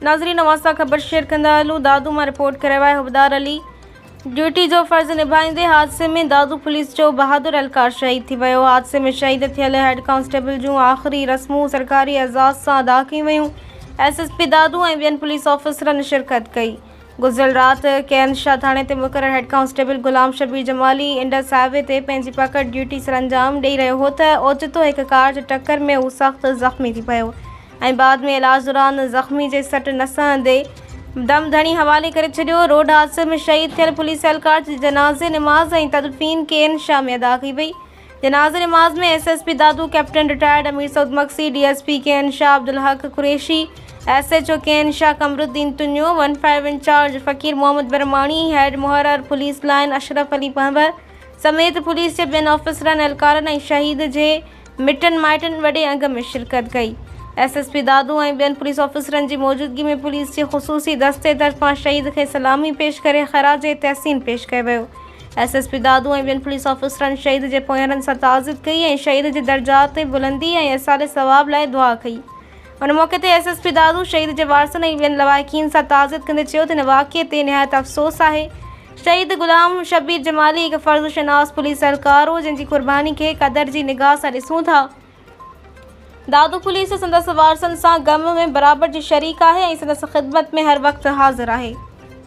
ناظرين اوهان سان خبر شيئر ڪندا هلون دادو مان رپورٽ ڪرايو آهي حبدار علي ڊيوٽي جو فرض نڀائيندي حادثي ۾ دادو پوليس جو بهادر اهلڪار شهيد ٿي ويو حادثي ۾ شهيد ٿيل هيڊ ڪانسٽيبل جون آخري رسمون سرڪاري اعزاز سان ادا ڪيون ويون ايس ايس پي دادو ۽ ٻين پوليس آفيسرن شرڪت ڪئي گذريل رات ڪينز شاهه ٿاڻي تي مقرر head constable Ghulam Shabbir Jamali Indus highway تي پنهنجي پڪڙ ڊيوٽي سرانجام ڏئي رهيو هو ته اوچتو هڪ ڪار جي ٽڪر ۾ هو سخت زخمي ٿي پيو ۽ بعد ۾ علاج دوران زخمي جي سٽ نه سهندي دم ڌڻي حوالي ڪري ڇڏيو روڊ حادثي ۾ شهيد ٿيل پوليس اهلڪار جي جنازي نماز ۽ تدفين ڪين شاهه ۾ ادا ڪئي وئي. جنازي نماز ۾ S S P Dadu, captain retired Amir Saud Magsi, D S P K N Shah Abdulhaq Qureshi, S H O K N Shah Qamaruddin Tunio, one five incharge Faqir Muhammad Brahmani, head محرر پوليس لائين اشرف علي پنهور سميت پوليس جي ٻين آفيسرن، اهلڪارن ۽ شهيد جي مٽن مائٽن وڏي انگ ۾ شرڪت ڪئي. ايس ايس پي دادو ۽ ٻين پوليس آفيسرن جي موجودگي ۾ پوليس جي خصوصي دستي طرفان شهيد کي سلامي پيش ڪري خراج تحسين پيش ڪيو ويو. ايس ايس پي دادو ۽ ٻين پوليس آفيسرن شهيد جي پونئيرن سان تعزيت ڪئي ۽ شهيد جي درجات تي بلندي ۽ ايصال ثواب لاء دعا ڪئي. ان موقعي تي ايس ايس پي دادو شهيد جي وارثن ۽ ٻين لواحقين سان تعزيت ڪندي چيو ته هن واقعي تي نهايت افسوس آهي. شهيد غلام شبير جمالي هڪ فرض شناس پوليس اهلڪار هو جنهن جي قرباني کي قدر جي نگاهه سان ڏسون ٿا. دادو پوليس سندس وارثن سان غم ۾ برابر جي شريڪ آهي ۽ سندس خدمت ۾ هر وقت حاضر آهي.